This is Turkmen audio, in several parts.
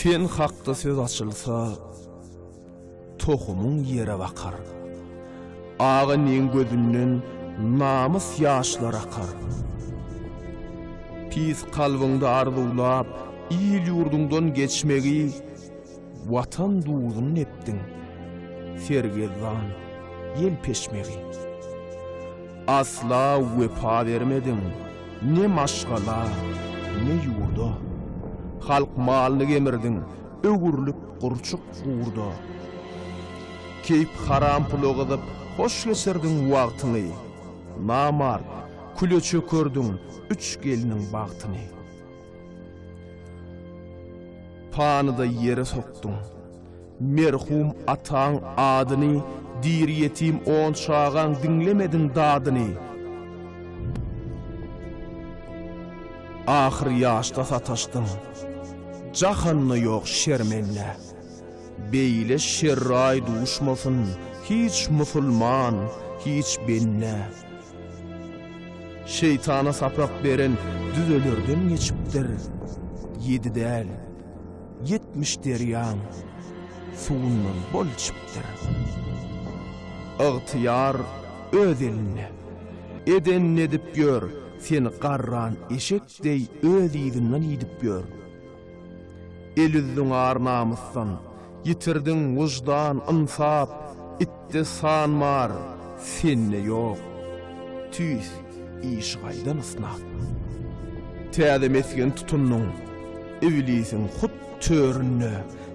Sen hakda söz açylsa, tohumyň ýere bakar. Aga neň gözünden namys ýaşlar akar. Pis kalbyňda arzuwlap, il-ýurduňdan geçmegi, Watan duzun nepdiň, sergezdan, ýel peşmegi. Asla wepa bermediň, ne maşgala, ne ýurda. Halk malyny gemirdiň, öwrülip gurçuk gurda. Keýp haram pula gyzyp, hoş geçirdiň wagtyňy. Namart, küle çökerdiň üç gelniň bagtyny. Pany-da ýere sokduň. Merhum ataň adyny Diri ýetim on çagaň Diňlemediň dadyny. Ahyr ýaşda sataşdyň. Jahanda ýok şermende. Beýle şerraý duşmasyn Hiç musulman, hiç bende. Şeýtana sapak beren düzelerden geçipdir. Ýedi däl, ýetmiş derýaň suwundan bol içipdir. Ygtyýar öz elinde. Edenini edip ýör, seni garran eşek deý öz yzyndan iýdip ýör. El üzdüň ar-namysdan, ýitirdiň wyždan, ynsap, itde san bar, sende ýok. Tüýs, işi gaýdan ysnap. Täze mesgen tutundyň, iblisiň hut töründe,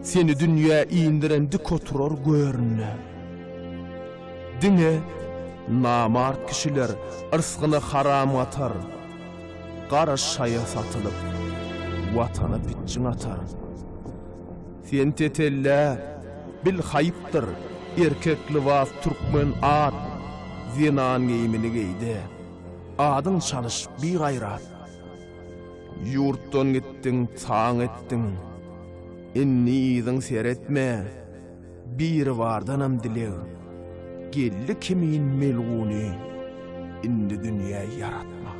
seni dünýä indiren dik oturar göründe. Diňe namart kişiler yrsgyny haram gatar. Gara şaýa satylyp, Watana pitjiň atar. Sen tetellä, bil haýpdyr, Erkek lybas türkmen at, Zenan geýimini geýde, Adyň çalyş bigaýrat. Ýurtdan gitdiň, taň etdiň, Indi yzyň seretme. Biribardanam dileg geldi kimin melguny indi dünýä ýaratmak.